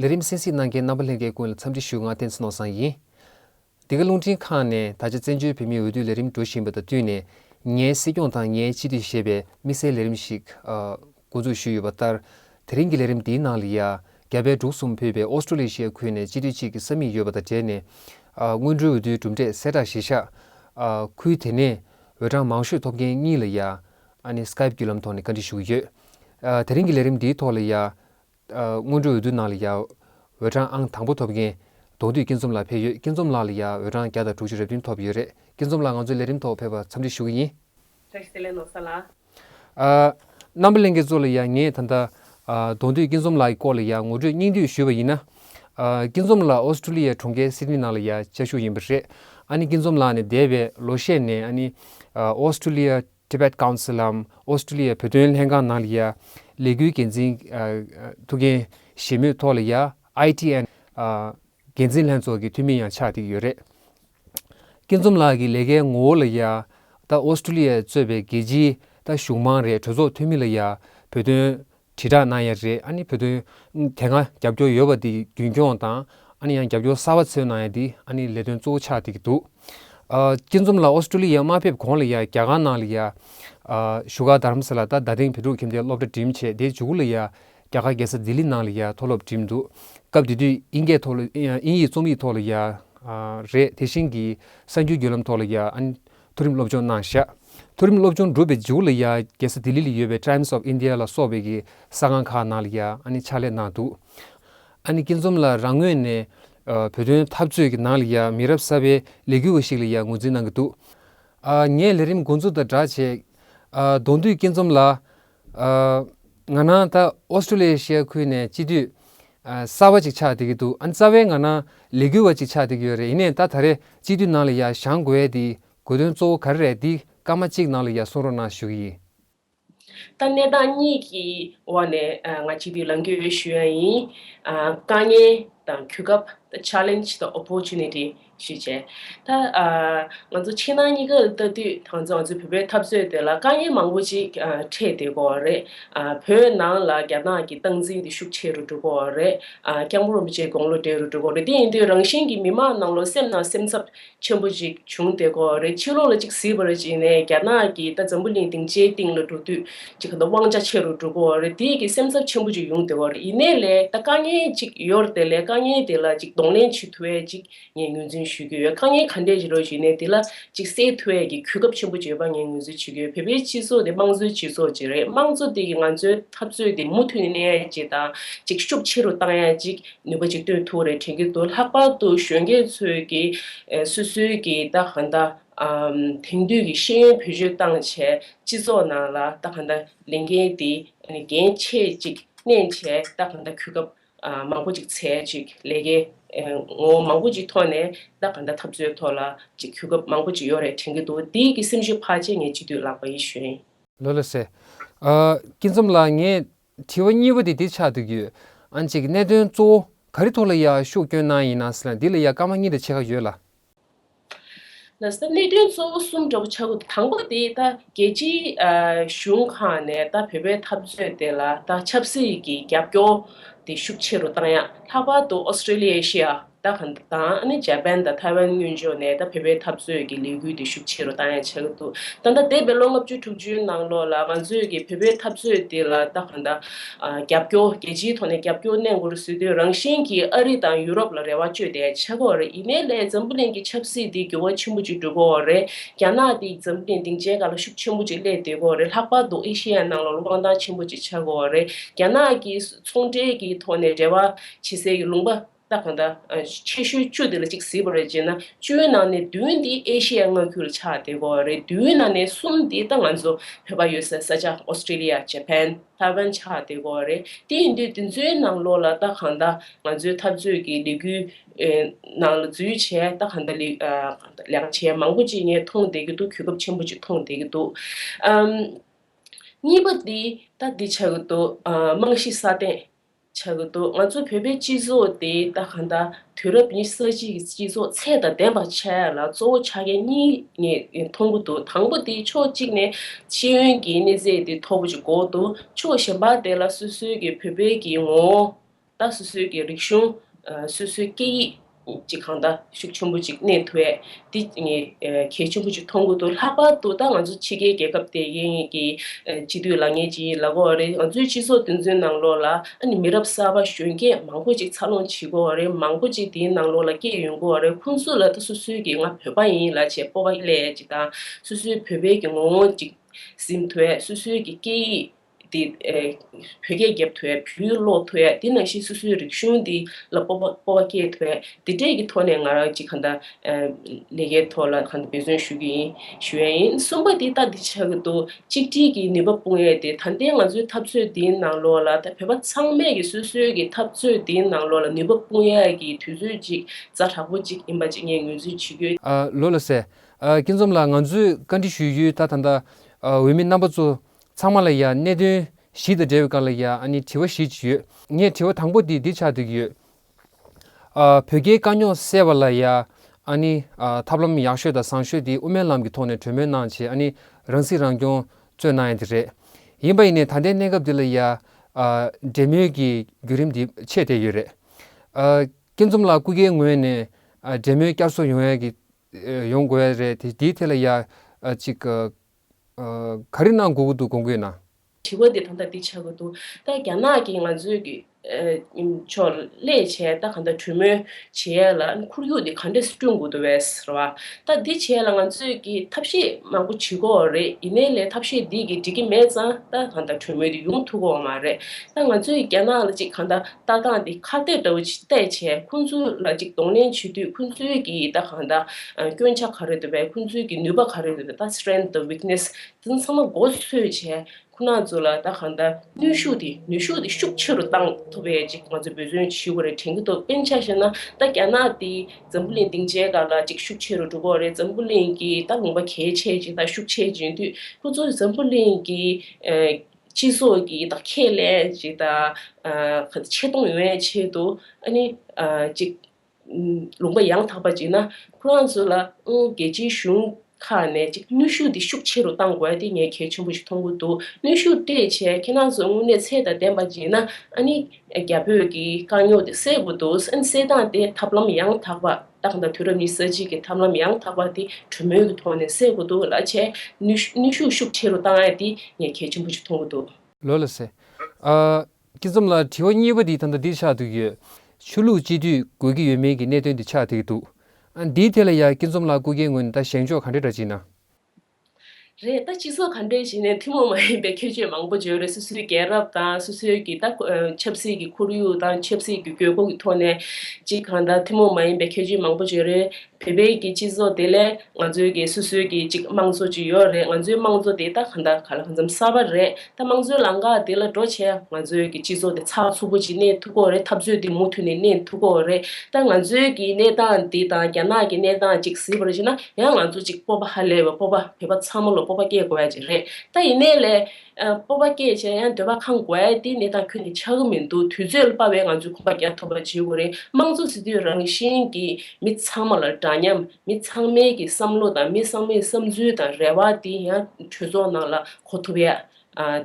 ལས་རིམ་གསན་གཟིགས་གནང་མཁན་རྣམ་པ་ལྷན་རྒྱས་ཀུན་ལ་འཚམས་འདྲི་ཞུ་ང་བསྟན་འཚོ་ནོར་བཟང་ཡིན། འདི་ག་རླུང་འཕྲིན་ཁང་ནས་ད་ཆ་བཙན་བྱོལ་བོད་མིའི་འོས་བསྡུ་ལས་རིམ་འགྲོ་བཞིན་པ་དང་བསྟུན་ནས། ངའི་སྲིད་སྐྱོང་དང་ངའི་སྤྱི་འཐུས་ཞེས་པའི་དམིགས་བསལ་ལས་རིམ་ཞིག་མགོ་འཛུགས་ཞུས་ཡོད་པ་ལྟར། དེ་རིང་གི་ལས་རིམ་འདིའི་ནང་ལི་ཡ། རྒྱ་བལ་འབྲུག་གསུམ་ཕུད་པའི་ཨོ་སྟྲོ་ལི་ཤའི་ཁུལ་ནས་སྤྱི་འཐུས་གཅིག་གི་ས་མིག་ཡོད་པ་དང་འབྲེལ་ནས། སྔོན་འགྲོའི་འོས་བསྡུའི་གྲུབ་འབྲས་གསལ་བསྒྲགས་གཞིར་བཞག། ཁུལ་དེ་ནས་འོས་གྲངས་མང་ཤོས་ཐོབ་མཁན་གཉིས་ལ་ཡ། Skype། བརྒྱུད་ལམ་ཐོག་ནས་བཀའ་འདྲི་ཞུ་གི་ཡོད། དེ་རིང་གི་ལས་རིམ་འདིའི་ཐོག་ལི་ཡ། སྔོན་འགྲོའི་འོས་བསྡུ་ནང་ལ་ཡ། འོས་གྲངས་ཨང་དང་པོ་ཐོབ་མཁན། གདོང་བསྡུས་སྐྱིད་འཛོམས་ལགས་ཕེབས་ཡོད་སྐྱིད་འཛོམས་ལགས་ལ་ཡ་འོས་གྲངས་བརྒྱ་དང་དྲུག་ཅུ་རེ་བདུན་ཐོབ་ཡོད་རེད་སྐྱིད་འཛོམས་ལགས་ང་ཚོའི་ལས་རིམ་ཐོག་ཕེབས་པར་འཚམས་འདྲི་ཞུ་གི་ཡིན། རེ་ཞིག་དེ་ལས་ལོ་སར་ལ། རྣམ་པ་གླིང་གེ་མཚོ་ལ་ཡ་ངས་ད་ལྟ། གདོང་བསྡུས་སྐྱིད་འཛོམས་ལགས་ཀྱི་སྐོར་ལ་ཡ་ངོ་སྤྲོད་སྙིང་བསྡུས་ཞུས་པ་ཡིན་ན། སྐྱིད་འཛོམས་ལགས་ཨོ་སི་ཀྲུ་ལི་ཡའི་གྲོང་ཁྱེར་སི་ཏི་ནི་ནང་ལ་ཡ་བཅའ་བཞུགས་ཡིན་པ་རེད། ཨ་ནི་སྐྱིད་འཛོམས་ལགས་ནས་འདས་པའི་ལོ་ཤས་ནས་ཨ་ནི། ཨོ་སི་ཀྲུ་ལི་ཡའི Tibet Council། ཨོ་སྟྲེ་ལི་ཡའི་བོད་དོན་ལྷན་ཁང་ནང་ལ་ཡ། ལས་འགུལ་འགན་འཛིན། ཐུགས་འགན་བཞེས་མུས་ཐོག་ལ་ཡ། ITN། འགན་འཛིན་ལྷན་ཚོགས་ཀྱི་འཐུས་མི་ཡང་ཆགས་འདུག་ཡོད་རེད། སྐྱིད་འཛོམས་ལགས་ཀྱི་ལས་ཀའི་ངོ་བོ་ལ་ཡ། ད་ཨོ་སྟྲེ་ལི་ཡའི་གཙོས་པའི་རྒྱལ་སྤྱིའི། ད་གཞུང་མང་རེད་གྲོས་ཚོགས་འཐུས་མི་ལ་ཡ། བོད་དོན། དྲིལ་བསྒྲགས་གནང་ཡས་རེད་ཨ་ནི་བོད་དོན་དེ་སྔ་རྒྱབ་སྐྱོར་ཡོད་པ་དེ་རྒྱུན་འཁྱོངས་དང་ཨ་ནི་ཡང་རྒྱབ་སྐྱོར་གསར་བ་འཚོལ་གནང་ཡས་དེ་ཨ་ནི་ལས་དོན་གཙོ་བོ་ཆགས་དེ་གི་འདུག་ཨ་སྐྱིད་འཛོམས་ལགས་ཨོ་སི་ཀྲོ་ལི་ཡ་མ་ཕེབས་གོང་ལ་ཡ་རྒྱ་གར་ནང་ལ་ཡ་བཞུགས་ག་དར་མ་ས་ལ་ད་ད་ཐེངས་བོད་ཕྲུག་ཁྱིམ་སྡེ་སློབ་གྲ་འགྲིམས་ཆེད་དེ་བྱུག་ལ་ཡ་རྒྱ་གར་རྒྱལ་ས་ལྡི་ལི་ནང་ལ་ཡ་མཐོ་སློབ་འགྲིམས་འདུག་སྐབས་དེ་དུས་དབྱིན་སྐད་ཐོག་ལ་དབྱིན་ཡིག་རྩོམ་ཡིག་ཐོག་ལ་ཡ་རེད་དེ་བཞིན་གི་གསར་འགྱུར་བརྒྱུད་ལམ་ཐོག་ལ་ཡ་ཨ་ནི་མཐོ་རིམ་སློབ་སྦྱོང་གནང་བཞག་མཐོ་རིམ་སློབ་སྦྱོང་བསྒྲུབས་པའི་མཇུག་ལ་ཡང་རྒྱལ་ས་ལྡི་ལི་ལ་ཡོད་པའི Times of India ལ་སོགས་པའི་གི་ས་ཁང་ཁག་ནང་ལ་ཡང་ཕྱག་ལས་གནང་འདུག་ཨ་ནི་སྐྱིད་འཛོམས་ལ་རང་ངོས་ནས་བོད་དོན་འཐབ་རྩོད་ཀྱི་ནང་ལ་ཡང་མི་རབས་གསར་པའི་ལས་འགུལ་བ་ཞིག་ལ་ཡང་ངོས་འཛིན་གནང་གི་འདུག་ངས་ལས་རིམ་འགོ་འཛུགས་དང་སྦྲགས་བྱས། གདོང་འདུས་སྐྱིད་འཛོམས་ལགས། ང་ནང་ད་ཨོ་སི་ཀྲུ་ལི་ཡའི་ཤེས་ཡ་ཁུལ་ནས་སྤྱི་འཐུས་གསར་བ་ཅིག་ཆགས་བསྡད་ཀྱི་འདུག་ཨ་ནི་རྩ་བའི་ང་ནང་ལས་འགུལ་བ་ཅིག་ཆགས་བསྡད་ཀྱི་ཡོད་རེད་ཡིན་ནས་ད་ད་རེས་སྤྱི་འཐུས་ནང་ལ་ཡར་བཞང་དགོས་ཡས་དེའི་དགོས་དོན་གཙོ་བོ་ག་རེ་རེད་འདི་སྐར་མ་གཅིག་ནང་ལ་ཡར་གསུང་རོགས་གནང་ཞུ་གི་ཡིན། ད་གནས་སྟངས་གཉིས་ཀྱི་འོག་ནས་ང་སྤྱི་འཐུས་ལང་རྒྱུ་ཞུ་ཡ་ཡིན། དཀའ་ངལ་དང་གུས་སྐབས་ད Challenge དང Opportunity ཞུས་བྱས། ད། ང་ཚོ་ཕྱི་ནང་གཉིས་ཀར་ལྟ་དུས་ད་ང་ཚོའི་བོད་པའི་འཐབ་རྩོད་དེ་ལ་དཀའ་ངལ་མང་པོ་ཅིག་འཕྲད་དེ་གོ་རེད། བོད་ནང་ལ་རྒྱ་ནག་གི་སྟངས་འཛིན་དེ་ཤུགས་ཆེ་རུ་འགྲོ་གོ་རེད། རྐྱང་པོ་རིན་པོ་ཆེའི་དགོང་ལོ་བགྲེས་རུ་འགྲོ་གོ་རེད་དེ་ཡིན་དུས་རང་བཞིན་གྱི་མི་མང་ནང་ལོ་སེམས་ནང་སེམས་འཚབ་ཆེན་པོ་ཅིག་བྱུང་དེ་གོ་རེད་ཕྱི་ལོག་ལ་ཅིག་བཟི་བར་བྱས་ནས་རྒྱ་ནག་གི་ད་འཛམ་བུ་གླིང་སྡིངས་ཆའི་སྟེང་ལ་འགྲོ་དུས་ཅིག་གི་ན་དབང་རྒྱ་ཆེ་རུ་འགྲོ་གི་འོ་རེད་དེ་གི་སེམས་འཚབ་ཆེན་པོ་ཅིག་ཡོང་སྡེ་བ་རེད་ཡིན་ནའི་ལེ་ད་དཀའ་ངལ་ཅིག་ཡོད་རེད་དེ་ལེ་དཀའ་ངལ་དེ་ལ་ཅིག་གདོང་ལེན་བྱེད་ཐུ་བས་ཅིག་ངས་ངོས་འཛིན་ཞུས་ཀྱི་ཡོད་དཀའ་ངལ་ག་འདྲས་ཞིག་རོ་ཞུས་ནས་དེ་ལ་ཅིག་སེལ་ཐུ་བས་ཀྱི་གུས་སྐབས་ཆེན་པོ་ཅིག་ཡོད་པ་ངས་ངོས་འཛིན་བྱེད་ཀྱི་ཡོད་བོད་པའི་སྤྱི་ཚོགས་དེ་དམངས་གཙོའི་སྤྱི་ཚོགས་ཅིག་རེད་དམངས་གཙོ་དེ་གི་ང་ཚོའི་འཐབ་རྩོད་དེ་མུ་མཐུད་ནས་གནས་ཡས་ཅིག་དང་ཅིག་ཤུགས་ཆེ་རུ་བཏང་ཡས་ཅིག་ནུས་པ་ཅིག་བཏོན་ཐུ་བ་རེད་དྲན་གྱི་འདུག་ལྷག་པར་དུ་གཞོན་སྐྱེས་ཚོས་ཀྱི་སོ་སོའི་གི་ད་གང་ད། དེང་དུས་ཀྱི་ཤེས་ཡོན་བེད་སྤྱོད་བཏང་བྱས་སྤྱི་ཚོགས་ནང་ལ་ད་ག་འདའ་ལས་འགན་དེ་འགན་ཆེ་ཅིག་བསྣན་བྱས་ད་ག་འདའ་གུས་སྐབས་མང་པོ་ཅིག་ཚེ་ཅིག་ལས་ཀའི་ངོ་བོ་མང་པོ་ཅིག་ཐོག་ནས་ད་ག་འདའ་འཐབ་རྩོད་ཐོག་ལ་ཅིག་གུས་སྐབས་མང་པོ་ཅིག་ཡོད་རེད་དྲན་གྱི་འདུག་དེའི་གི་སེམས་ཤུགས་ཕར་ཆེ་ངས་སྤྱི་འཐུས་ལགས་པ་ཡི་ཞུན། ལོ་ལོ་ཟེར། སྐྱིད་འཛོམས་ལགས་ངས་དྲི་བ་གཉིས་པ་དེ་འདི་ཆགས་འདུག་ཡོད་ཨང་གཅིག་གནད་དོན་གཙོ་བོ་ག་རི་ཐོག་ལ་ཡག་ཤུགས་སྐྱོན་གནང་ཡིན་ན་སྲིད་ལ་འདི་ལ་ཡག་སྐར་མ་གཉིས་དང་ཕྱེད་ཀ་ཡོད་ལ། ལ་ས་གནད་དོན་གཙོ་བོ་གསུམ་འདྲ་པོ་ཆགས་ཀྱི་འདུག་དང་པོ་དེ་ད་རྒྱལ་སྤྱིའི་གཞུང་ཁག་ནས་ད་བོད་པའི་འཐབ་རྩོད་དེ་ལ་ད་ཆབ་སྲིད་ཀྱི་རྒྱབ་སྐྱོར་དེ་ཤུགས་ཆེ་རུ་བཏང་ཡ་ལྷག་པར་དུ་ཨོ་སི་ཀྲི་ལི་ཡའི་ཤི་ཡ་ད་གྷན་དང་ཨནི་ཇཱ་པན་དང་ཐའེ་ཝན་སྔོན་ཆོད་ནས་ད་བོད་པའི་འཐབ་རྩོད་ཀྱི་ལས་འགུལ་དེ་ཤུགས་ཆེ་རུ་བཏང་ཡ་ཆགས་ཀྱི་འདུག་ད་ད་འདས་པའི་ལོ་ལྔ་བཅུ་དྲུག་ཅུའི་ནང་ལོགས་ལ་ང་ཚོས་ཀྱི་བོད་པའི་འཐབ་རྩོད་དེ་ལ་ད་གྷན་ད་རྒྱབ་སྐྱོར། རྒྱལ་སྤྱིའི་ཐོག་ནས་རྒྱབ་སྐྱོར་གནས་སྒོ་རུ་ཟུད་དོན་རང་བཞིན་གྱིས་ཨ་རི་དང་ཡུ་རོབ་ལ་རེ་བ་བཅོལ་ཏེ་ཆགས་པ་རེད་ཡིན་ནའི་ལས་འཛམ་བུ་གླིང་གི་ཆབ་སྲིད་འདི་འགྱུར་བ་ཆེན་པོ་ཅིག་འགྲོ་དགོས་བ་རེད་རྒྱ་ནག་འདི་འཛམ་བུ་གླིང་སྡིངས་ཆའི་ག་ལ་ཤུགས་ཆེན་པོ་ཅིག་སླེ་སྡོད་དགོས་བ་རེད་ལྷག་པར་དུ་ཨེ་ཤེ་ཡའི་ནང་ལ་ལོ་སྤང་ཐང་ཆེན་པོ་ཅིག་ཆགས་དགོས་བ་རེད་རྒྱ་ནག་གིས་ཚོང་འབྲེལ་གྱི་ཐོག་ནས་འབྲེལ་བ་བྱེད་སའི་ལུང་པ། ད་གང་ལྟར། ཆེ་ཤོས་བཅུ་དེ་ལ་གཅིག་བཟི་བ་རེད་ཅེ་ན་བཅུའི་ནང་ནས་བདུན་དེ་ཨེ་ཤེ་ཡ་མངའ་ཁུལ་ལ་ཆགས་བསྡད་པོ་རེད་བདུན་ནང་ནས་གསུམ་དེ་ད་ང་ཚོ་བོད་པ་ཡོད་སའི་ས་ཆ Australia Japan Taiwan ཆགས་བསྡད་པོ་རེད་དེ་ཡིན་དུས་དེ་ཚོའི་ནང་ལོགས་ལ་ད་གང་ལྟར་ང་ཚོའི་འཐབ་རྩོད་ཀྱི་ལས་འགུལ། ནང་ལ་འཛུལ་བྱས་ད་གང་ལྟར་ལས་ཀ་བྱས་མང་པོ་ཅིག་ངས་མཐོང་བསྡད་ཀྱི་འདུག་གུས་སྐབས་ཆེན་པོ་ཅིག་མཐོང་བསྡད་ཀྱི་འདུག་གཉིས་པ་དེ་ད་འདི་ཆགས་ཀྱི་འདུག་རྨང་གཞི་སྲ་བརྟན། བྱ་གི་འདུག་ང་ཚོ་བོད་པའི་སྤྱི་ཚོགས་དེ་ད་ག་ད་དུས་རབས་ཉི་ས་གཅིག་གི་སྤྱི་ཚོགས་ཚད་དང་ལྡན་པ་ཆགས་ཡ་ལ་གཙོ་བོ་ཆ་རྐྱེན་གཉིས་ནས་མཐོང་གི་འདུག་དང་པོ་དེ་ཕྱོགས་གཅིག་ནས་ཤེས་ཡོན་གྱི་གནས་ཚད་དེ་མཐོ་པོ་ཅིག་འགོག་འདུག་ཕྱོགས་གཞན་པ་དེ་ལ་སོ་སོའི་གི་བོད་པའི་གི་ངོ་བོ་དང་སོ་སོའི་གི་རིག་གཞུང། སོ་སོའི་སྐད་ཡིག། ཅིག་གང་ལྟ་ཤུགས་ཆེན་པོ་ཅིག་གནས་ཐུ་ཨེ། འདི་གལ་ཆེན་པོ་ཅིག་མཐོང་གི་འདུག་ལྷག་པར་དུ་ད་ང་ཚོ་ཕྱི་རྒྱལ་རྒྱལ་ཁབ་དེ་གའི་སྤྱི་འཐུས་ལ་ངས་ཅིག་ལབ་དགོས་བ་རེད་ང་ཚོའི་སྤྱི་ཚོགས་འདི་ཚོའི་ནང་ལོགས་ལ་ཨ་ནི་མི་རབས་གསར་པ་གཞོན་སྐྱེས་མང་པོ་ཅིག་འཚར་ལོངས་བྱེད་དགོས་བ་རེད་མང་པོ་ཅིག་དེའི་ནང་ལོགས་ལ་སྐྱེས་ཡོང་དགོས་བ་རེད་ཁོང་ཚོ་ལ་ད་སོ་སོའི་གི་ང་བོད་པ་ཡིན་ལ་བྱས་སྤོབས་པ་སླད་ཅིག་དང་སོ་སོའི་བོད་པའི་གི་ངོ་བོ་ཅིག་གཟིམ་ཐུ་ཨེ་སོ་སོའི་གི་སྐད་ཡིག་འདི། བོད་སྐད་བརྒྱབ་ཐོས་བོད་ཡིག་ཀློག་ཐོས་དེ་ནང་བཞིན་སོ་སོའི་རིག་གཞུང་འདི་ལ་སྤོབས་པ་སྤོབས་པ་སྐྱེས་ཐོས་དེ་འབྲས་ཀྱི་ཐོག་ནས་ང་རང་ཅིག་གང་དང། ལས་ཀའི་ཐོག་ལ་གང་དང་འབད་བརྩོན་ཞུ་གི་ཡིན་ཞུ་ཡ་ཡིན་གསུམ་པ་དེ་ལྟ་དེ་ཆགས་ཀྱི་འདུག་གཅིག་སྒྲིལ་གྱི་ནུས་པ་སྤུངས་ཡས་དེ་ད་ལྟའི་ང་ཚོའི་འཐབ་རྩོད་འདིའི་ནང་ལོགས་ལ་ད་བོད་པ་ཚང་མས་ཀྱི་སོ་སོའི་ཀྱི་འཐབ་རྩོད་འདིའི་ནང་ལོགས་ལ་ནུས་པ་སྤུངས་ཡས་ཀྱི་དུས་ཚོད་ཅིག་རྩ་དྲག་པོ་ཅིག་ཡིན་པ་ཅིག་ངས་ངོས་འཛིན་བྱེད་ཀྱི། ལོས་ལ་ཟེར། སྐྱིད་འཛོམས་ལགས་ང་ཚོས་བཀའ་འདྲི་ཞུ་ཡུལ་ད་ད་ལྟ་འོས་མི་རྣམ་པ་ཚོ་ཚང་མ་ལ་ཡང་གནད་དོན་བཞི་དང་འབྲེལ་བའི་སྐབས་ལ་ཡང་དྲི་བ་བཞི་ཅིག་ཡོད། ངས་དྲི་བ་དང་པོ་དེ་འདི་ཆགས་འདུག་ཡོད། བོད་རྒྱའི་དཀའ་རྙོག་སེལ་བ་ལ་ཡང་ཐབས་ལམ་ཡག་ཤོས་དང་བཟང་ཤོས་དེ་དབུ་མའི་ལམ་གྱི་ཐོག་ནས་གྲོས་མོལ་གནང་བྱས་རང་སྲིད་རང་སྐྱོང་གཙོས་གནང་ཡ་དེ་རེད། ཡིན་པ་ཡིན་ནའི་ད་ལྟའི་གནས་སྐབས་འདི་ལ་ཡང་འབྲེལ་མོལ་གྱི་བརྒྱུད་རིམ་དེ་ཆད་བསྡད་ཡོད་རེད། སྐྱིད་འཛོམས་ལགས་སྐུ་སྒེར་ངོས་ནས་འབྲེལ་མོལ་བསྐྱར་གསོ་ཡོང་དགོས་ཡ་རེད་དེའི་ཐད་ལ་ཡང་ཅིག་ག་རེ་གནང་དགོས་ཀྱི་འདུག་གོང་གི་ན། དྲི་བ་འདི་ད་ལྟ་འདི་བྱ་དགོས་འདུག་ད་རྒྱ་ནག་གི་ང་ཚོའི་གི་ཕྱོགས་ལས་བྱས་ད་ག་འདྲ་གྲོས་མོལ་བྱེད་ཡས་ལ་འཁོར་ཡུག་འདི་ག་འདྲ་སྐྲུན་དགོས་འདུག་བས་རེད་བ། ད་འདི་བྱས་ལ་ང་ཚོས་གི་ཐབས་ཤེས་མང་པོ་བྱེད་དགོས་བ་རེད་ཡིན་ནའི་ལས་ཐབས་ཤེས་འདི་གི་འགྲིག་གི་མེད་ཙང་ད་ག་འདྲ་གྲོས་མོལ་འདི་ཡོང་ཐུབ་དགོས་བ་མ་རེད་ད་ང་ཚོའི་རྒྱ་ནག་ལ་ཅིག་ག་འདྲ་ལྟ་སྟངས་འདི་ཁ་གཏད་འདྲ་བོ་བལྟས་བྱས་ཁོང་ཚོའི་ལ་ཅིག་གདོང་ལེན་བྱེད་དུས་ཁོང་ཚོའི་གི་ད་ག་འདྲ་སྐྱོན་ཆ་ག་རེ་འདུག་པའི་ཁོང་ཚོའི་གི་ནུས་པ་ག་རེ་འདུག་ད strength དང weakness དེ་ཚང་མ་མགོ་འཚོས་བྱས་ཁོ་ན་ཚོ་ལ་ད་གང་ལྟར་ནུས་ཤུགས་དེ་ནུས་ཤུགས་དེ་ཤུགས་ཆེ་རུ་བཏང་ཐུབ་པའི་ཅིག་ང་ཚོས་འབོད་བརྩོན་ཞུ་དགོས་རེད་དྲན་གྱི་འདུག་དཔེ་ཆ་ཞེ་ན་ད་རྒྱ་ནག་དེ་འཛམ་བུ་གླིང་སྡིངས་ཆའི་ག་ལ་ཅིག་ཤུགས་ཆེ་རུ་འགྲོ་དགོས་རེད་འཛམ་བུ་གླིང་གི་ད་ལུང་པ་གལ་ཆེ་ཅིག་ད་ཤུགས་ཆེ་ཅིག་དུས་ཁོ་ཚོ་འཛམ་བུ་གླིང་གི་སྤྱི་ཚོགས་ཀྱི་ད་ཁས་ལེན་ཅིག་ད་ཆེ་མཐོང་ཡོང་བའི་ཆེད་དུ་ཨ་ནི་ཅིག། ལུང་པ་ཡང་དག་པ་གཅིག་ན་ཁོ་རང་ཚོ་ལ་རྒྱལ་སྤྱིའི་གཞུང་ཁག་ནས་གཅིག་ནུས་ཤུགས་འདི་ཤུགས་ཆེ་རུ་གཏང་དགོས་དེ་ངས་གལ་ཆེན་པོ་ཞིག་མཐོང་གི་འདུག་ནུས་ཤུགས་སྤྲད་བྱས་ཁྱེད་རང་ཚོ་དངོས་གནས་ཚད་དང་ལྡན་པ་བྱས་ན་ཨ་ནི་རྒྱ་བོད་ཀྱི་དཀའ་རྙོག་དེ་སེལ་དགོས་འདུག་སེལ་སྟངས་དེ་ཐབས་ལམ་ཡང་དག་པ་རྟགས་དང་དུས་རབས་ཉི་ས་གཅིག་གི་ཐབས་ལམ་ཡང་དག་པ་དེ་གྲོས་མོལ་གྱི་ཐོག་ནས་སེལ་དགོས་འདུག་ལ་བྱས་ནུས་ཤུགས་ཤུགས་ཆེ་རུ་གཏང་ཨེ་དེ་ངས་གལ་ཆེན་པོ་ཞིག་མཐོང་གི་འདུག། ལོས་ལ་ཟེར། ཀྱི་ཙམ་ལ་དྲི་བ་གཉིས་པ་འདི་ད་ལྟ་འདིར་ཆགས་འདུག་ཡོད། ཆོས་ལུགས་སྤྱི་འཐུས་དགོས་ཀྱི་ཡོད་མེད་ཀྱི་གནད་དོན་འདི་ཆགས་འདུག་ཡོད། ཨ་འདིའི་ཐད་ལ་ཡང་ཀྱི་ཙོམ་ལགས་སྐུ་སྒེར་ངོས་ནས་ད་བཞེངས་ཕྱོགས་ག་འདྲེ་འདྲ་བྱེད་ན། རེད་ད་སྤྱི་ཚོགས་ག་འདྲེ་བྱེད་ནས་ཐུན་མོང་མ་ཡིན་པའི་ཁྱད་ཆོས་མང་པོ་བརྗོད་རེད་སོ་སོའི་རྒྱལ་རབས་དང་སོ་སོའི་གྱི་ད་ཆབ་སྲིད་ཀྱི་ཁོར་ཡུག་དང་ཆབ་སྲིད་ཀྱི་དགོས་མཁོ་གི་ཐོག་ནས་ཅི་གང་ད་ཐུན་མོང་མ་ཡིན་པའི་ཁྱད་ཆོས་མང་པོ་བརྗོད་རེད། བོད་པའི་གི་སྤྱི་ཚོགས་དེ་ལས་ང་ཚོའི་གི་སོ་སོའི་གི་ཅིག་དམངས་གཙོ་ཅིག་ཡོད་རེད་ང་ཚོའི་དམངས་གཙོ་དེ་ད་གང་ད་ག་ལ་གང་འཚམ་གསར་པ་རེད་ད་དམངས་གཙོའི་ལང་ཀ་དེ་ལ་འགྲོ་ཆེད་ང་ཚོའི་གི་སྤྱི་ཚོགས་དེ་ཚགས་ཚུད་པོ་ཅིག་གནས་ཐུབ་ཁོག་རེད་འཐབ་རྩོད་དེ་མུ་མཐུད་ནས་གནས་ཐུབ་ཁོག་རེད་ད་ང་ཚོའི་གི་གནས་སྟངས་དེ་དང་རྒྱ་ནག་གི་གནས་སྟངས་ཅིག་གཟིགས་པར་ཤེས་ན་ཡང་ང་ཚོ་ཅིག་སྤོབས་པ་ཧ་ལས་པའི་སྤོབས་པ་བོད་པ་ཚང་མ་ལོ་སྤོབས་པ་སྐྱེ་དགོས་པ་ཅིག་རེད་ད་ཡིན་ནའི་ལས། སྤོབས་པ་སྐྱེས་བྱས་ཡང་འདོད་པ་ཁང་དགོས་དེ་གནས་སྟངས་ཁྱོན་དེ་ཆགས་ཀྱི་མི་འདུག་དུས་ཚོད་སྤར་བས་ང་ཚོས་ཁོམ་པ་རྒྱག་ཐུབ་པ་བྱེད་དགོས་རེད་དམངས་གཙོ་ཟེར་དུས་རང་བཞིན་གྱིས་མི་ཚང་མ་ལ་འདྲ་མཉམ་མི་ཚང་མའི་གི་བསམ་བློ་དང་མི་ཚང་མའི་བསམ་ཚུལ་དང་རེ་བ་དེ་ཡང་གྲོས་ཚོགས་ནང་ལ་གོ་ཐུབ་ཡ།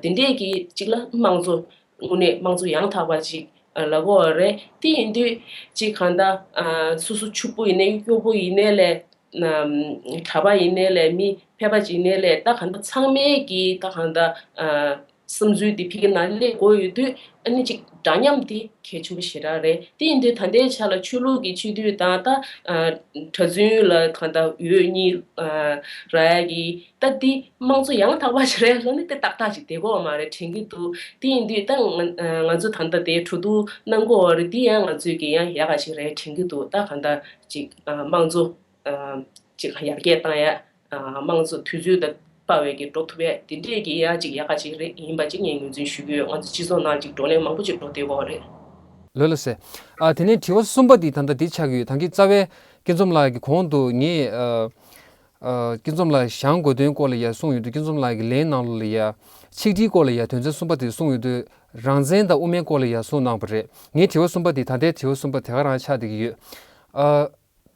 དེ་འདྲས་ཀྱི་གཅིག་ལ་དམངས་གཙོ་དངོས་གནས་དམངས་གཙོ་ཡང་དག་པ་ཞིག་ལབ་དགོས་བ་རེད། དེ་ཡིན་དུས། ཅི་གང་ལྟར། སོ་སོ་ཕྱུག་པོ་ཡིན་ནའི་སྐྱོ་པོ་ཡིན་ནའི་ལས། གྲྭ་པ་ཡིན་ནའི་ལས་མི་ཕལ་པ་ཅིག་ཡིན་ནའི་ལས་ད་གང་ལྟར་ཚང་མས་ཀྱི་ད་གང་ལྟར། བསམ་ཚུལ་དེ་ཕིག་གི་ནང་སླེབས་དགོས་ཡོད་དུས། ཨ་ནི་ཅིག་འདྲ་མཉམ་དེ་གལ་ཆེན་པོ་ཞེ་དྲག་རེད། དེ་ཡིན་དུས་ད་ལྟའི་ཆ་ལ་ཆོས་ལུགས་ཀྱི་སྤྱི་འཐུས་དང། གྲྭ་བཙུན་ལ་གང་ལྟར་འོས་གཉིས་རག་ཡ་གི། ད་དེ་དམངས་གཙོ་ཡང་དག་པ་ཞིག་རེད་ལབ་ནི་དེ་ཏག་ཏག་ཅིག་བསྡད་གོ་མ་རེད་དྲན་གྱི་འདུག་དེ་ཡིན་དུས་ད་ང་ཚོ་ད་ལྟ་དེ་གྲོ་བསྡུ་གནང་གོ་རེད་དེ་ཡང་ང་ཚོས་ཀྱི་ཡང་ཡག་ག་ཞིག་རེད་དྲན་གྱི་འདུག་ད་གང་ལྟར་ཅིག་དམངས་གཙོ་ཅིག་ཡར་རྒྱས་བཏང་ཡ་དམངས་གཙོ་དུས་ཚོད་དང་དཔའ་བས་ཀྱི་འགྲོ་ཐུབ་ཡ་དེ་འདྲས་ཀྱི་ཡ་ཅིག་ཡག་ག་ཞིག་རེད་ཡིན་པ་ཅིག་ངས་ངོས་འཛིན་ཞུ་གི་ཡོད་ང་ཚོ་སྤྱི་ཚོགས་ནང་ཅིག་བགྲོ་གླེང་མང་པོ་ཅིག་འགྲོ་བསྡད་གོ་རེད། ལོས་ལ་ཟེར། ཨ་དེ་ནས་དྲི་བ་གསུམ་པ་དེ་ད་ལྟ་དེ་ཆགས་ཡོད་ད་གིན་རྩ་བའི། སྐེ་འཛོམས་ལགས་ཀྱི་གོང་དུ་ངས། སྐྱིད་འཛོམས་ལགས་ཞང་དགོས་དོན་སྐོར་ལ་ཡ་གསུངས་ཡོད་དུས་སྐྱིད་འཛོམས་ལགས་ཀྱི་ལན་གནང་ལོ་ལ་ཡ། ཆིག་སྒྲིལ་སྐོར་ལ་ཡ་དོན་ཚན་གསུམ་པ་དེ་གསུངས་ཡོད་དུས་རང་བཙན་དང་དབུ་མའི་སྐོར་ལ་ཡ་གསུངས་གནང་བ་རེད་ངའི་དྲི་བ་གསུམ་པ་དེ་ད་ལྟའི་དྲི་བ་གསུམ་པ་དེ་ག་རང་ཆགས་བསྡད་ཀྱི་ཡོད།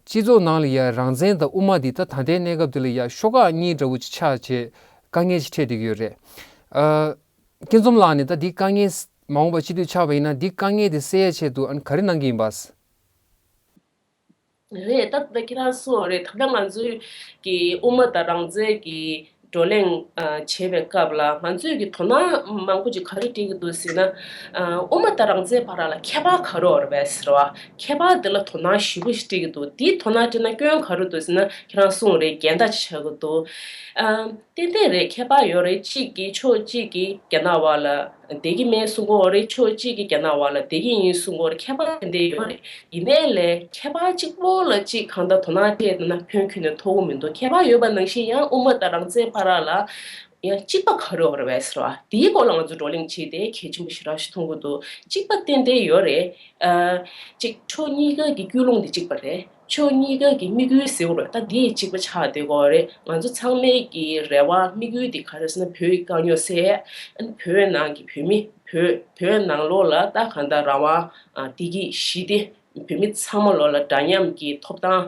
སྤྱི་ཚོགས་ནང་ལ་ཡ་རང་བཙན་དང་དབུ་མ་དེ་ད་ད་ལྟའི་གནས་སྐབས་དེ་ལ་ཡ་ཤོ་ཁག་གཉིས་འདྲ་བོ་ཅིག་ཆགས་ཆེ་དཀའ་ངལ་ཅིག་འཕྲད་བསྡད་ཀྱི་ཡོད་རེད། སྐྱིད་འཛོམས་ལགས་ནས་ད་འདི་དཀའ་ངལ་མ་འོངས་པ་ཅི་དུས་ཆགས་པ་ཡིན་ན་འདི་དཀའ་ངལ་དེ་སེལ་ཡ་ཆེད་དུ་ཨ་ནི་ག་རེ་གནང་གི་ཡིན་པ། རེད་ད། ཁྱེད་རང་སུའོ་རེད་ད། ད་ང་ཚོའི་གི་དབུ་མ་དང་རང་བཙན་གི་བགྲོ་གླེང་བྱེད་པའི་སྐབས་ལ་ང་ཚོས་ཀྱི་དོ་སྣང་མང་པོ་ཅིག་ག་རེ་བྲིས་ཀྱི་འདུག་ཟེར་ན། དབུ་མ་དང་རང་བཙན་བར་ལ་ཁྱད་པར་ག་རེ་འོར་བས་ཟེར་བ། ཁྱད་པར་དེ་ལ་དོ་སྣང་ཞིབ་པོ་ཞིག་བྲིས་ཀྱི་འདུག་དེའི་དོ་སྣང་བྲིས་ན་སྐྱོན་ག་རེ་འདུག་ཟེར་ན་ཁྱེད་རང་སུའོ་རེད་འགལ་ཟླ་ཅིག་ཆགས་ཀྱི་འདུག། ཏན་ཏན་རེད་ཁྱད་པར་ཡོད་རེད་གཅིག་གིས་ཕྱོགས་གཅིག་གིས་རྒྱ་ནག་བར་ལ་བདེ་སྐྱིད་མའི་གསུང་སྐོར་རེད་ཕྱོགས་གཅིག་གི་རྒྱ་ནག་བ་ལ་བདེ་སྐྱིད་ཡིན་གསུང་སྐོར་ཁྱད་པར་དེ་འདྲའི་ཡོད་རེད་ཡིན་ནའི་ལས་ཁྱད་པར་གཅིག་པོ་ལ་གཅིག་གང་ལྟར་དོ་སྣང་བྱས་ན་ཁྱོད་ཁྱོད་ནས་མཐོ་བོ་མི་འདུག་ཁྱད་པར་ཡོད་པ་ནང་བཞིན་ཡང་དབུ་མ་དང་རང་བཙན་བར་རག་ལ་ཡང་གཅིག་པ་གང་རེད་བར་བས་རེད་དེའི་སྐོར་ལ་ང་ཚོས་བགྲོ་གླེང་བྱས་ཏེ་གལ་ཆེན་པོ་ཞིག་རག་ཞིག་མཐོང་གི་འདུག་གཅིག་པ་ཏན་ཏན་ཡོད་རེད། གཅིག་ཕྱོགས་གཉིས་ཀ་གི་སྐྱོ་ལུང་དེ་གཅིག་པ་རེད། ཕྱོགས་གཉིས་ཀ་གི་དམིགས་ཡུལ་ཟེར་བ་ད་འདི་གཅིག་པ་ཆགས་བསྡད་གོ་རེད་ང་ཚོ་ཚང་མའི་གི་རེ་བ་དམིགས་ཡུལ་དེ་ག་རེ་ཟེར་ན་བོད་ཀྱི་དཀའ་རྙོག་སེལ་ཨ་བོད་ནང་གི་བོད་མི་བོད་བོད་ནང་ལོགས་ལ་ད་གང་ལྟར་རང་དབང་བདེ་སྐྱིད་ཞི་བདེ་བོད་མི་ཚང་མ་ལོགས་ལ་འདྲ་མཉམ་གྱི་ཐོབ་ཐང་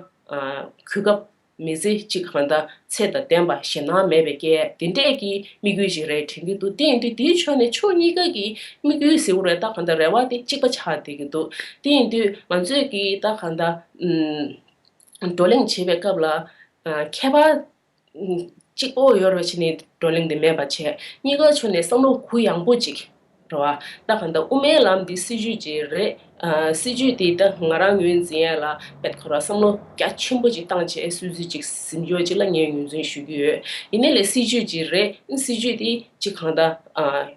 གུས་སྐབས་མི་ཚེ་གཅིག་གང་ལྟར་ཚད་དང་ལྡན་པ་ཞེད་སྣང་མེད་པའི་སྐད། འདི་འདྲས་ཀྱི་དམིགས་ཡུལ་ཞིག་རེད་དྲན་གྱི་འདུག་དེ་ཡིན་དུས་དེའི་ཕྱོགས་ནས་ཕྱོགས་གཉིས་ཀ་གི་དམིགས་ཡུལ་གཟིགས་རོགས་རེད་ད་གང་ལྟར་རེ་བ་དེ་གཅིག་པ་ཆགས་བསྡད་ཀྱི་འདུག་དེ་ཡིན་དུས་ང་ཚོས་ཀྱི་ད་གང་ལྟར། བགྲོ་གླེང་བྱེད་པའི་སྐབས་ལ། ཁྱད་པར། གཅིག་པོ་ཡོད་རེ་བྱས་ནས་བགྲོ་གླེང་དེ་མེད་པར་བྱས། གཉིས་ཀ་ཕྱོགས་ནས་བསམ་བློ་གུ་ཡངས་པོ་ཅིག་འགྲོ་བ་ལྟ་གང་ལྟ་དབུ་མའི་ལམ་འདི་སྲིད་ཇུས་ཅིག་རེད། སྲིད་ཇུས་དེའི་སྟེང་ང་རང་ངོས་འཛིན་ཡན་ལག་བེད་ཁོ་ར་བསམ་བློ་རྒྱ་ཆེན་པོ་ཅིག་བཏང་རྗེས་སྲིད་ཇུས་ཅིག་གཟིམ་ཡོད་ཅེས་ལ་ངས་ངོས་འཛིན་ཞུ་གི་ཡོད། ཡིན་ན་ལས་སྲིད་ཇུས་ཅིག་རེད་སྲིད་ཇུས་དེ་ཅིག་གང་ལྟ་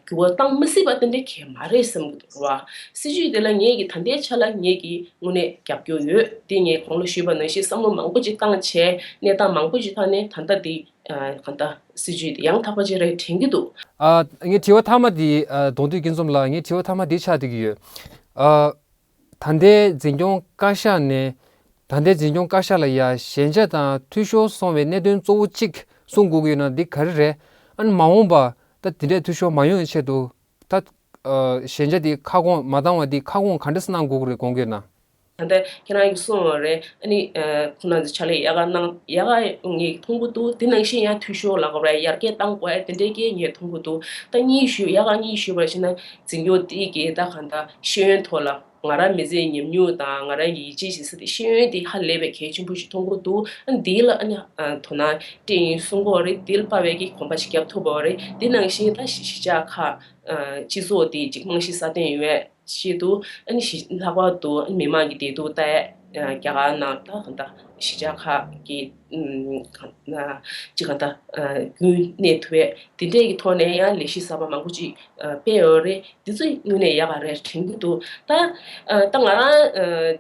འགྱུར་བ་བཏང་མི་སྲིད་པ་དེ་འདྲ་གལ་མ་རེད་བསམ་གི་འདུག་འགྲོ་བ་སྲིད་ཇུས་དེ་ལ་ངས་ཀྱི་ད་ལྟའི་ཆ་ལ་ངས་ཀྱི་དངོས་གནས་རྒྱབ་སྐྱོར་ཡོད་དེ་ངས་གོང་ལ་ཞུས་པ་ནང་བཞིན་བསམ་བློ་མང་པོ་ཅིག་བཏང་རྗེས་གནས་སྟངས་མང་པོ་ཞིག་ཐག་ནས་ད་ལྟ་དེ་གང་ལྟ། སྲིད་ཇུས་འདི་ཡང་དག་པ་ཅིག་རེད་དྲན་གྱི་འདུག། ཨ། ངའི་དྲི་བ་མཐའ་མ་འདི། གདོང་ཐུག་སྐྱིད་འཛོམས་ལགས་ངའི་དྲི་བ་མཐའ་མ་འདི་ཆགས་འདུག་གི་ཡོད། ཨ། ད་ལྟའི་འཛིན་སྐྱོང་བཀའ་ཤག་ནས། ད་ལྟའི་འཛིན་སྐྱོང་བཀའ་ཤག་ལ་ཡ་ཞན་ཆ་དང་འཐུས་ཤོར་སོང་བའི་གནད་དོན་གཙོ་བོ་གཅིག་གསུང་དགོས་ཀྱི་ཡོད་ན་འདི་ག་རེ་རེད། ཨན། མ་འོངས་པ་ད་དེ་འདྲའི་འཐུས་ཤོར་མ་ཡོང་བའི་ཆེད་དུ། ད། ཨ། ཞན་ཆ་འདི་ཁ་སྐོང་མ་བཏང་བ་འདི་ཁ་སྐོང་ག་འདྲ་སྣང་དགོས་ཀྱི་རེད་དགོངས་ཀྱི་ཡོད་ན། ད་ལྟ་ཁྱེད་རང་གིས་གསུངས་བ་རེད་ཨ་ནི། ཁོང་རྣམས་ཀྱི་ཕྱག་ལས་ཡག་ག་གནང་ཡག་ག་ངས་མཐོང་གི་འདུག་དེ་ནང་བཞིན་ཡང་འཐུས་ཤོར་ལ་ཡར་རྒྱས་བཏང་དགོས་ཨེ་དེ་འདྲའི་སྐད་ངས་མཐོང་གི་འདུག་ད་གཉིས་ཞུས་ཡག་ག་གཉིས་ཞུས་པར་ཕྱིན་ན་འཛིན་སྐྱོང་དེ་གས་ད་ག་ད་ཤེས་ཡོན་ཐོག་ལ་ང་རང་མི་ཚེ་ཉམས་མྱོང་དང་ང་རང་གི་ཡིད་ཆེས་བྱེད་ས་དེ་ཤེས་ཡོན་དེ་ཧ་ལས་པའི་གལ་ཆེན་པོ་ཞིག་མཐོང་གི་འདུག་ཨ་ནི་དེའི་ལ་ཨ་ནི་དོ་སྣང་སྤྲད་ཡིན་གསུངས་གོ་རེད་དེ་ལ་པ་བས་ཀྱི་གོམ་པ་ཞིག་རྒྱབ་ཐུབ་བོ་རེད་དེ་ནང་བཞིན་ད་གཞིས་ཆགས་ཁག་སྤྱི་ཚོགས་དེ་གཅིག་རྨང་གཞི་སྲ་བརྟན་ཡོད། ཞེས་དུ་ཞི་ལྷག་པར་དུ་མི་དམངས་ཀྱི་བདེ་སྡུག་ལྟ་ཡས་རྒྱ་གར་ནང་ད་གང་ལྟ་གཞིས་ཆགས་ཁག་གི་གང་ལྟ་རྒྱུན་གནས་ཐུབ་པས་དེ་འབྲས་ཀྱི་ཐོག་ནས་ཡང་ལས་གཞི་གསར་པ་མང་པོ་ཅིག་སྤེལ་འོས་རེད་འདི་ཚོ་དངོས་གནས་ཡག་རེད་དྲན་གྱི་འདུག་ད་ལྟ་ང་རང་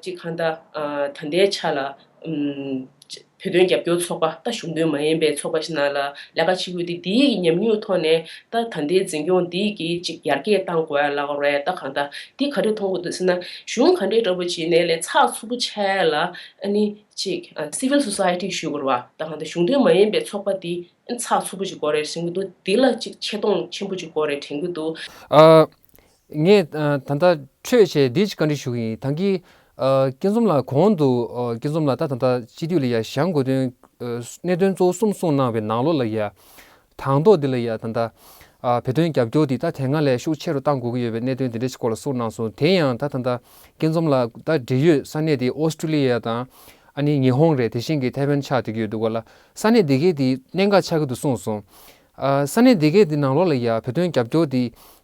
གཅིག་གང་ལྟ་ད་ལྟའི་ཆ་ལ་བོད་དོན་རྒྱབ་སྐྱོར་ཚོགས་པ་ལྟ་གཞུང་དོན་མ་ཡིན་པའི་ཚོགས་པ་ཞིག་ནང་ལ་ལས་ཀ་བྱེད་དགོས་ཏེ་འདིའི་གི་ཉམས་མྱོང་ཐོག་ནས་ལྟ་ད་འདིའི་འཛིན་སྐྱོང་འདིའི་གི་ཅིག་ཡར་རྒྱས་བཏང་དགོས་ཡ་ལགས་རེད་ལྟ་གང་ལྟ་འདི་ག་རེ་མཐོང་དགོས་འདུག་ཟེར་ན་གཞུང་ག་འདྲའི་འདྲ་པོ་བྱེད་ནས་ལས་ཚགས་ཚུགས་པོ་བྱས་ལ་ཨ་ནི་ཅིག Civil Society ཞུས་དགོས་རེད་བ་ལྟ་གང་ལྟ་གཞུང་དོན་མ་ཡིན་པའི་ཚོགས་པ་འདི་ཨ་ནི་ཚགས་ཚུགས་པོ་ཅིག་དགོས་རེད་དྲན་གི་འདུག་འདི་ལ་ཅིག་ཆེ་མཐོང་ཆེན་པོ་ཅིག་དགོས་རེད་དྲན་གི་འདུག། ངས་ད་ལྟ་ཁྲོད་ཆེ་འདི་གཅིག་བཀའ་འདྲི་ཞུ་གི་ཡིན་ད་གིས། སྐྱིད་འཛོམས་ལགས་གོང་དུ་སྐྱིད་འཛོམས་ལགས་ད་ད་ད་སྤྱི་འཐུས་ལ་ཡ་བཞང་དགོས་དོན་གནད་དོན་གཙོ་བོ་གསུམ་གསུངས་གནང་བའི་ནང་ལོགས་ལ་ཡ། དང་ཐོག་འདི་ལ་ཡ་ད་ད། བོད་དོན་རྒྱབ་སྐྱོར་འདི་ད་དེ་སྔ་ལས་ཤུགས་ཆེ་རུ་གཏང་དགོས་ཀྱི་ཡོད་པའི་གནད་དོན་འདི་འདྲ་ཞིག་སྐོར་ལ་གསུངས་གནང་སོང་དེ་ཡང་ད་ད་ད་སྐྱིད་འཛོམས་ལགས་ད་འབྲེལ་ཡོད་ས་གནས་དེ་ཨོ་སྟྲུ་ལི་ཡ་དང། ཨ་ནི་ཉི་ཧོང་རེད་དེ་བཞིན་གྱི་ཐེ་ཝན་ཆགས་འདོད་ཀྱི་ཡོད་འདུག་ག་ལ་ས་གནས་དེ་གའི་དེ་གནད་འགག་ཆགས་ཀྱི་འདུག་གསུངས་སོང། ས་གནས་དེ་གའི་དེ་ནང་ལོགས་ལ་ཡ་བོད་དོན་རྒྱབ་སྐྱོར་འདི།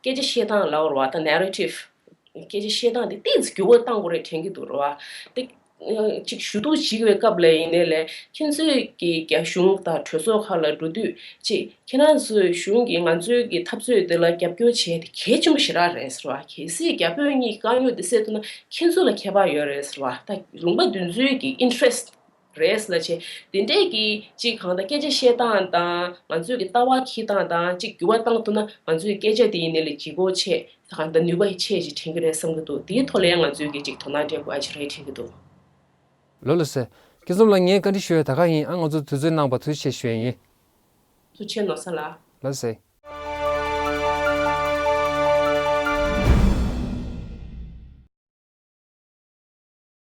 སྐད་ཆ་བཤད་སྟངས་ལ་བར་བ་དང Narrative། སྐད་ཆ་བཤད་སྟངས་དེ་ཏིང་ཚི་འགྱུར་བ་གཏང་དགོས་རེད་དྲན་གྱི་འདུག་བར་བ། དེ་གཅིག་ཞུ་གཏུག་བྱེད་པའི་སྐབས་ལ་ཡིན་ནའི་ལས་ཁྱེད་ཚོས་ཀྱི་རྒྱ་གཞུང་དང་གྲོས་ཚོགས་ཁག་ལ་འགྲོ་དུས་གཅིག་ཁྱེད་རང་ཚོའི་གཞུང་གིས་ང་ཚོའི་ཀྱི་འཐབ་རྩོད་དེ་ལ་རྒྱབ་སྐྱོར་བྱས་དེ་གལ་ཆེན་པོ་ཞེ་དྲག་རེད་ཟེར་བ་གལ་སྲིད་རྒྱ་བོད་གཉིས་ཀྱི་དཀའ་རྙོག་དེ་སེལ་ཐུབ་ན་ཁྱེད་ཚོ་ལ་ཁྱད་པར་ཡོད་རེད་ཟེར་བ་ད་རུང་པ་བདུན་ཚོའི་ཀྱི interest རེས་ལ་བྱེད། དེ་འདྲས་ཀྱིས་གཅིག་གང་ལྟར་སྐད་ཆ་བཤད་སྟངས་དང་ང་ཚོས་ཀྱི་ལྟ་བ་གྱིས་སྟངས་དང་གཅིག་འགྱུར་བ་བཏང་ཐུབ་ན་ང་ཚོའི་སྐད་ཆ་དེ་ཡིན་ནི་ལས་བྱེད་སྒོ་ཆེད་གང་ལྟར་ནུས་པ་ཆེ་ཞིག་དྲན་གྱི་རེད་བསམ་གྱི་འདུག་དེའི་ཐོག་ལ་ཡང་ང་ཚོས་ཀྱིས་གཅིག་དོ་སྣང་སྤྲད་དགོས་ཨ་ཅི་རེད་དྲན་གྱི་འདུག། ལོ་ལོ་ཟེར། སྐྱིད་འཛོམས་ལགས་ངས་བཀའ་འདྲི་ཞུ་ཡ་ད་ག་ཡིན་ཨང་ང་ཚོ་དུས་ཚོད་གནང་བར་ཐུགས་ཆེ་ཞུ་ཡ་ཡིན། ཐུགས་ཆེ་ནོར་ས་ལགས། ལོ་ཟེར།